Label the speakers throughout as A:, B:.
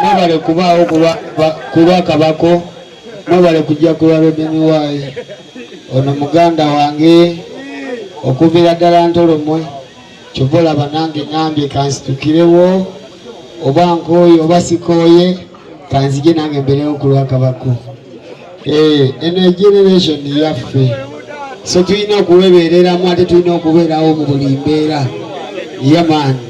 A: mwebale kubaawo kulwa kabako mwebale kujja kulwa robini waayi ono muganda wange okuviira ddala ntolomwe kyova olaba nange ngambye kansitukirewo oba nkooye oba sikooye kanzije nange mberewo kulwa kabako eh, eno generation yaffe so tulina okuwebeereramu ate tulina okubeerawo mu buli mbeera yamaani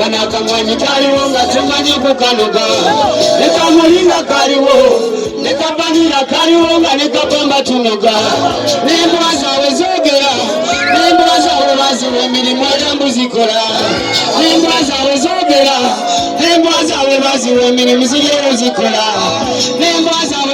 A: wanakamwanyi kaliwo nga temanyi kukanoga nekamulinga kaliwo nekabanira kaliwo nga nekapamba tunoga nembwa zawe zogera nembwa zawe baziwa emirimu erambu zikola nembwa zawe zogera nembwa zawe baziwa emirimu zigero zikola nembwa zawe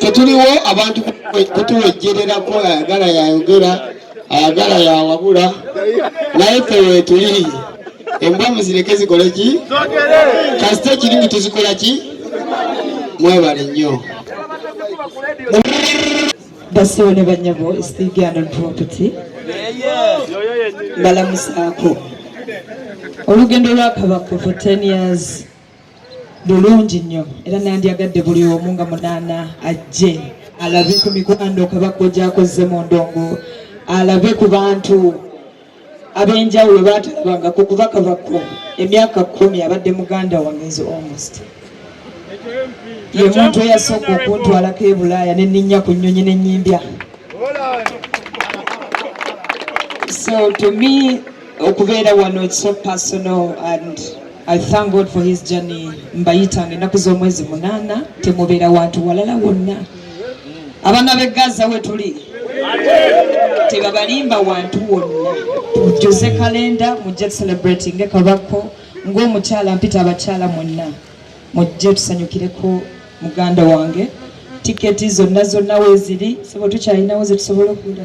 A: tetuliwo abantu kutuwejjererako ayagala yayogera ayagala yawabula naye fe wetuli embwa muzireke zikole ki kasita ekirimu tuzikola ki mwebale nnyo
B: basiwo ne banyabo stigianon property mbalamusaako olugendo lwakabako for 10 years lulungi nnyo era nandyagadde buli omu nga munaana ajje alabe ku mikwano kabakko gyakozze mu ndongo alabe ku bantu ab'enjawulo baatalabangako kuba kabakko emyaka kumi abadde muganda wange nze almost ye muntu eyasooka okuntwalako e bulaaya ne nninnya ku nnyonyi ne nnyimbya so to me okubeera wano it's so personal and I thank God for his journey mbayitanga ennaku z'omwezi munaana temubeera wantu walala wonna abaana b'e gaza we tuli tebabalimba wantu wonna tujuze kalenda mujje tucelebratinge kabako ng'omukyala mpita abakyala mwenna mujje tusanyukireko muganda wange tiketi zonna zonna weziri sebo tukyalinawo zetusobola okula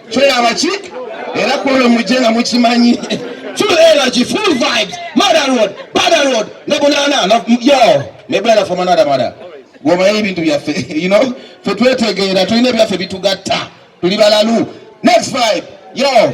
C: tulaba ki era kwolwo mujje nga mukimanyi full energy full vibes mother road mother road ne bunana yo ne brother from another mother gwomanyi ebintu byaffe you know fe twetegeera tulina ebyaffe bitugatta tuli balalu next vibe yo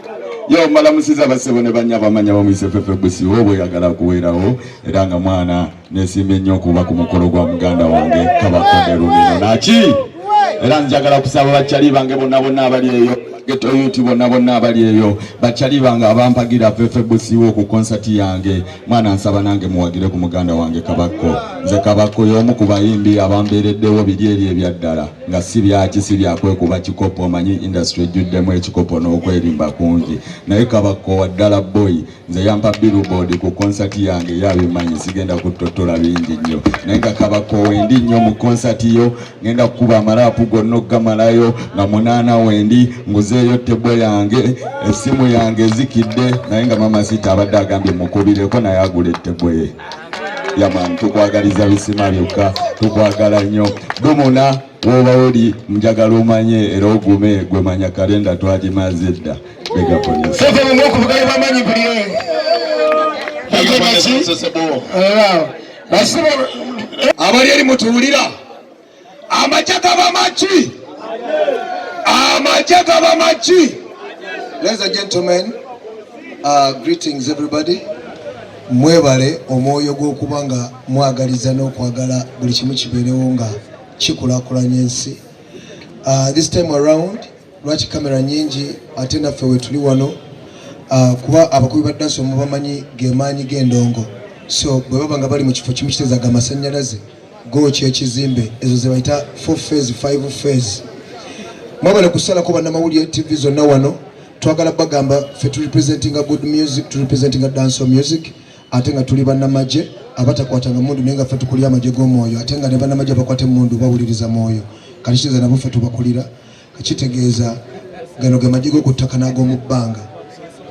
C: yo malamusiza basebo ne banya bamanya bamuyise fefe busi obo yagala kuwerawo era nga mwana nesimba ennyo okuba ku mukolo gwa muganda wange kabakonde lumino naki era njagala okusaba bakyali bange bonna bonna abali eyo
D: getoyuti bonna bonna abali eyo bakyali bange abampagira fefe busiwo ku konsati yange mwana nsaba nange muwagire ku muganda wange kabakko nze kabakko y'omu ku bayimbi abambeereddewo biri eri ebyaddala nga si byaki si byakwekuba kikopo omanyi industry ejjuddemu ekikopo n'okwerimba kungi naye kabakkowa ddala boy nze yampa billboard ku concert yange yabimanyi sigenda kuttottola bingi nnyo naye nga kabakkowa endi nnyo mu concert yo ngenda kukuba amalaapu gonna okugamalayo nga munaana wendi nguzeeyo tebo yange essimu yange ezikidde naye nga mama sita abadde agambye mukubireko naye agula ettebo ye yaman tukwagaliza bisima byokka tukwagala nnyo dumuna woba oli njagala omanye era ogume gwemanya kalenda twagimaze edda abali
C: eri mutuwulira amagye gaba maki amagye gaba maki ladies and gentlemen uh, greetings everybody mwebale omwoyo gw'okuba nga mwagaliza n'okwagala buli kimu kibeerewo nga kikulakulanya ensi uh, this time around lwaki kamera nyingi ate naffe wetuli wano uh, kuba abakubi ba dansi omubamanyi gemaanyi g'endongo so bwe baba nga bali mu kifo kimu kitezaga amasanyalaze go kyekizimbe ezo zebayita four phase five phase mwabale kusalako bannamawulire tv zonna wano twagala bagamba fe tu representinga good music tu representinga danso music ate nga tuli bannamagye abatakwatanga mundu naye nga fe tukulira amagye g'omwoyo ate nga ne bannamagye abakwata emundu bawuliriza mwoyo kati kiza nabo fe tubakulira Kitegeeza gano ge magye g'oku ttaka n'ag'omu bbanga.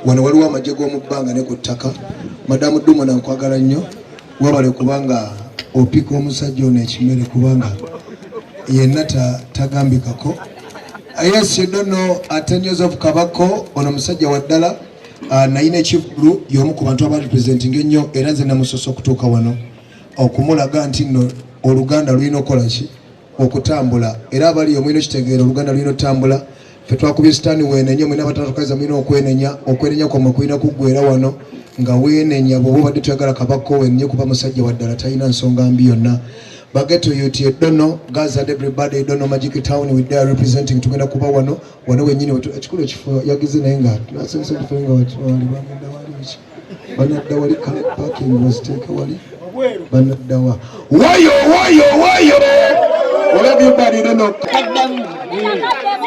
C: Wano waliwo amagye g'omu bbanga ne ku ttaka. Madamu Dumona nkwagala nnyo, wabale kubanga opika omusajja ono ekimere kubanga yenna tagambikako. Yes, you don't know, uh, 10 years of Kabako, ono musajja wa ddala uh, naye nekivulu y'omu ku bantu abali presenting ennyo era nze namusosa okutuuka wano okumulaga nti nno oluganda lulina okukola ki okutambula era abaliyo mulina okitegeera oluganda lulina otambula fe twakubye sitaani weenenya mwena abatanatukaza mulina okwenenya okwenenya kwamwe kulina kuggwera wano nga weenenya bwoba obadde toyagala kabakko wenenye kuba musajja waddala talina nsonga mbi yonna bageto yuti edono gaza everybody edono magic town with their representing tugenda kuba wano wano wenyini ekikulu ekifo yagize naye nga nasomesa tufe nga wali bamenda wali banadawali parking baziteeke wali banaddawa wayo wayo wayo olabye balire nokaddamu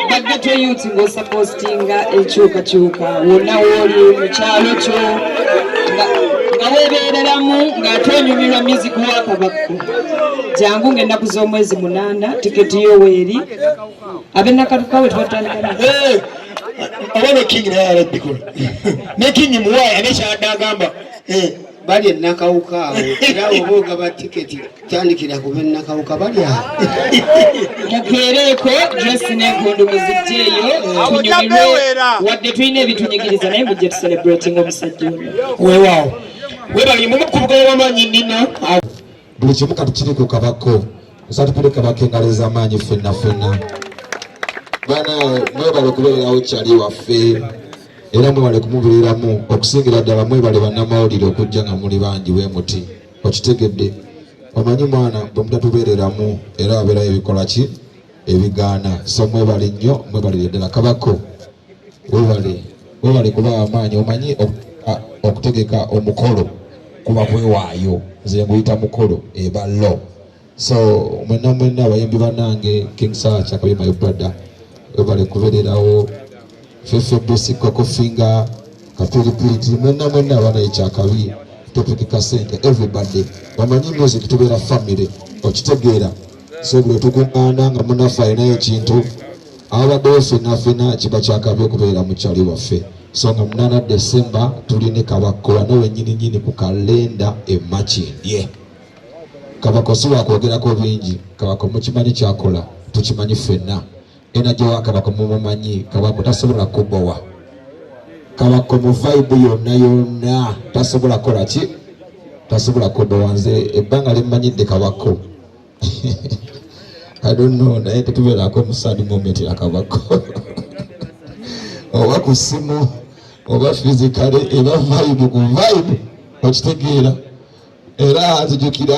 C: bajjato
B: yuti ng'osapostinga enkyukakyuka wonna wooli mu kyalo kyo nga weebeereramu ng'ate onyumirwa music wakabakku jangu ng'ennaku z'omwezi munaana tiketi yo weeri abenakalukawe twatandika
A: oba ne king naye alabbikola ne king muwaye ane kyadde agamba eh. bali enakawuka awo era oba ogaba tiketi tandikira ku benakawuka bali awo
B: mukeereeko dresi nenkondo muzijjeeyo tunyumirwe wadde tulina ebitunyigiriza naye mujja tucelebrating omusajja ono weewaawo
A: webali mumu ku bugoba bamaanyi nnina buli kimu
E: kati kiri ku kabako nsatupire kabako engalo ez'amaanyi ffenna ffenna bana mwebale okubeererawo kyali waffe era mwebale kumubeereramu okusingira ddala mwebale bannamawulire okujja nga muli bangi bwe muti okitegedde omanyi mwana bwe mutatubeereramu era wabeerayo ebikolaki ebigaana so mwebale nnyo mwebalire ddala kabako webale webale kuba amaanyi omanyi okutegeka omukolo kuba kwewaayo nze nguyita mukolo eba lo so mwena mwena abayimbi banange king sacha kabi my brother webale kubererawo fefe bosi koko finga kapiripiriti mwena mwena abana ekyakabi topikika sente everybody bamanyi music tubeera family okitegeera so bwe tukuŋŋaana nga munaffe alinayo ekintu abaddewo fenafena kiba kyakabi okubeera mukyali waffe so nga munana desemba tuli ne kabakko wano wenyininyini ku kalenda emakindye kabako si wakwogerako bingi kabako mukimanyi kyakola tukimanyi fenna ena gyewa kabako mumumanyi kabako tasobola kubowa kabako mu vibe yonna yonna tasobola kola ki tasobola kubowa nze ebbanga limumanyidde kabako I don't know naye tetubeerako omusaadi mumetera kabako oba ku simu oba fizikale eba vibe ku vibe okitegeera era nzijukira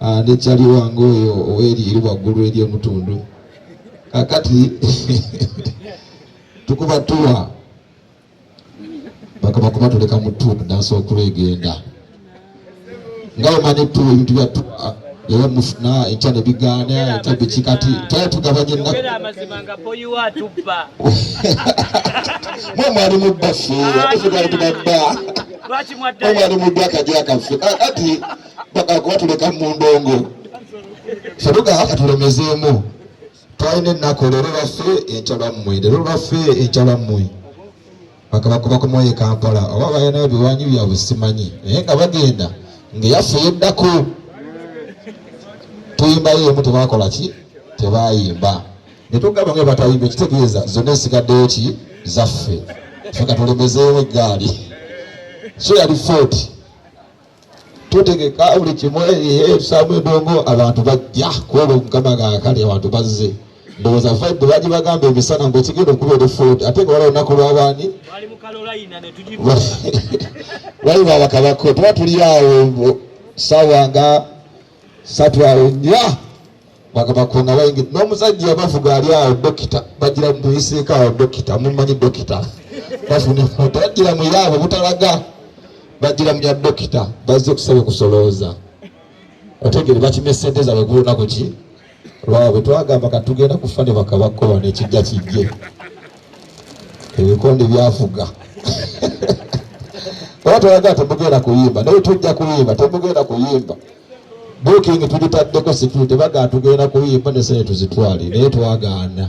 E: Ah, ne cali wange oyo oweriiru waggulu eri omutundu kakati tukuba tuwa bakaba kuba tuleka mu tu tudansa okulu egenda nga omani tu ebintu bya tu era mufuna ekya ne bigaana ekya biki kati tala tugabanye mwe mwali mu bbaffe ah, ofugaali tubabba mwe mwali mu ddwakajwakaffe kakati bagala kuba tuleka mu ndongo febuga katulemezeemu twalina ennaku leero lwaffe enkya lwammwe leero lwaffe enkya lwammwe bakabakuba ku mwoyo kampala oba balinayo biwanyi byabwe simanyi naye nga bagenda ngaeyaffe yeddako tuyimbayo emu tebakola ki tebayimba netugamba nga batayimba ekitegeeza zonna esigaddeyo ki zaffe fe katulemezeewo eggaali so yali footi tutegeka buli kimu etusaamu edongo abantu bajja kuoba omukama gakali abantu bazze ndowooza vibe baji bagamba emisana ngu ekigenda okuba olufod ate nga wala olunaku lwabaani wali babakabako tuba tuli awo sawa nga satu awo nya bagabakonga bayingi n'omusajja yabavuga ali awo dokita bagira muyiseeko awo dokita mumanyi dokita bafuna emota bagira muyaabo butalaga bagira muya dokita bazze okusaba okusolooza otegere bakimya sente zaabwe ku lunaku ki lwabwe twagamba kati tugenda kufa ne bakabakkola nekijja kijje ebikonde byafuga oba twagala temugenda kuyimba naye tujja kuyimba temugenda kuyimba bukingi tugitaddeko sikiriti bagala tugenda kuyimba nesene tuzitwale naye twagaana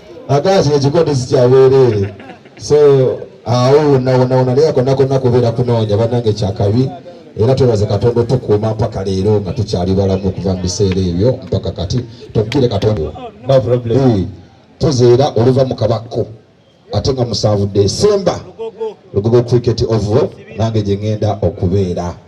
E: Agati ekikondi sikyabeereere so awo wonawonawona naye akonakonna kubeera kunoonya banange kyakabi era twebaze katonda otukuuma mpaka leero nga tukyali balamu okuva mu biseera ebyo mpaka kati tokukire katonda tuzeera oluva mu kabakko ate nga musanvu desemba lugogo cricket ovo nange gye ŋenda okubeera